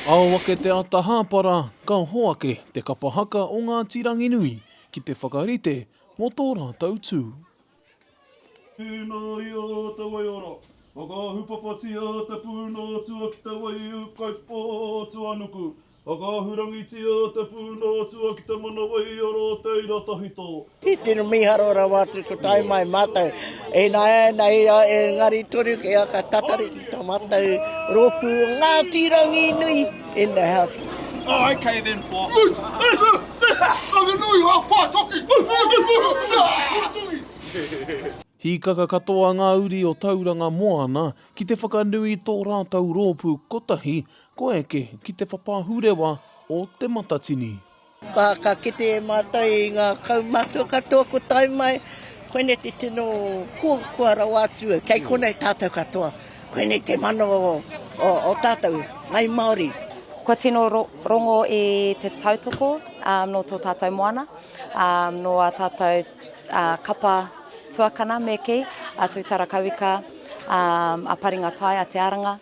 Ao ake te ata hāpara, ka hoake te kapa haka o Ngāti Ranginui ki te whakarite mō tō rātou tū. Tēnā i a te waiora, whakaahupapatia te pūnōtua ki te waiūkaipō tuanuku, Whakaahurangitia te pūnao atua ki te manawai o rō teira tawhito. He tino miharo rawa atu ko tae mai matou e naena e a e ngari toru ki a ka tatari ki to matou ropu o Ngati Ranginui in the house. Oh ok then for. Ranginui ha pa toki Ranginui. Hīkaka katoa ngā uri o Tauranga Moana ki te whakanui i tō rātou rōpū kotahi Kua eke ki te papahurewa o Te Matatini. Ka ka kite e mātou i ngā kaumātua katoa ko tae mai, koinei te tino koakoa rawa atu, kei konei tātou katoa, koinei te mana o o tātou, ngai Māori. Kua tino rongo i te tautoko nō tō tātou moana, nō ā tātou kapa tuakana me kī, a Tūtarakauika, a Paringatai, a Te Aranga.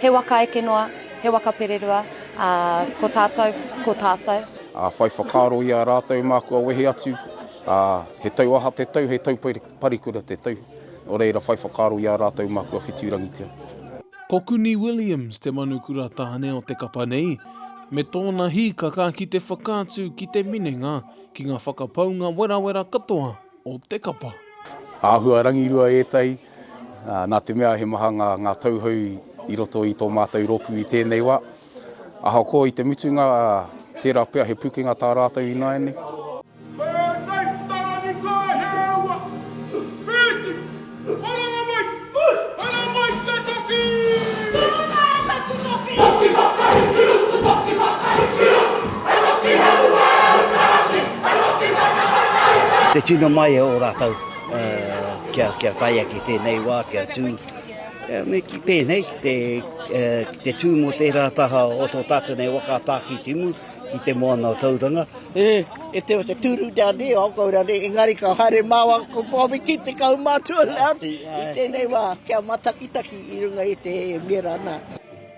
He waka eke noa, he waka pererua, ā, ko tātou, ko tātou. Ā, whai whakaaro i a rātou mā kua wehe atu, ā, he tau aha te tau, he tau parikura te tau, nō reira whai whakaaro i a rātou mā kua whitirangitia. Ko Kuni Williams te manukura tāne o te kapa nei, me tōna hīkaka ki te whakaatu ki te minenga Ki nga whakapaunga werawera katoa o te kapa. Āhua rangirua ētahi, nā te mea he maha ngā tauhou i roto i tō mātou rōpū i tēnei wā. Ahakoa i te mutunga, tērā pea he pukenga tā rātou ināianei. Te tino mai e o ratou kia taia ki tenei wa, kia tu, me ki penei, ki te tu mo tera taha o to tatou nei waka a Takitimu, I te moana Tauranga. E, if there was a turu down there, I'll go down there. Engari ka haere māua ko Pōmiki te kaumātua Leati i tēnei wā kia matakitaki i runga i te mera nā.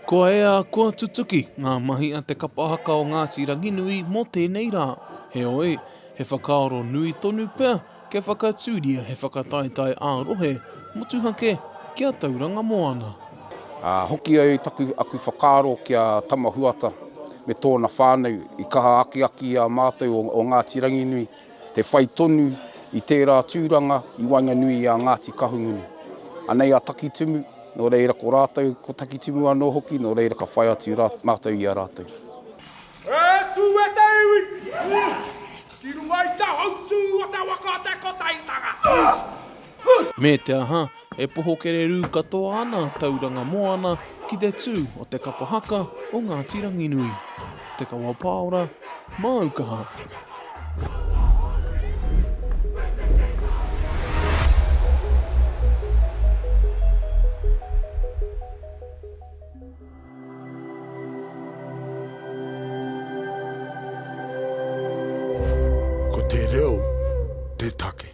Kua ea, kua tutuki ngā mahi a te kapa haka o Ngāti Ranginui mō tēnei rā. Heoi, he whakaaro nui tonu pea Kia whakatūria he whakataetae ā-rohe motuhake ki a Tauranga Moana. Ā, hoki ai taku, aku whakaaro ki a Tama Huata me tōna whānau i kaha akiaki i a mātou o, o Ngāti Ranginui, te whai tonu i tērā tūranga i waenganui i a Ngāti Kahungunu. Anei a Takitimu, nō reira ko rātou, ko Takitimu anō hoki, nō reira ka whai atu rā, mātou i a rātou. Atu e te iwi! Ki runga i te hautū o te waka o te Kotaitanga. Me te aha, e poho kererū katoa ana Tauranga Moana ki te tū o te kapa haka o Ngāti Ranginui. Te kawa pāora, māu kaha. Ko te reo te take.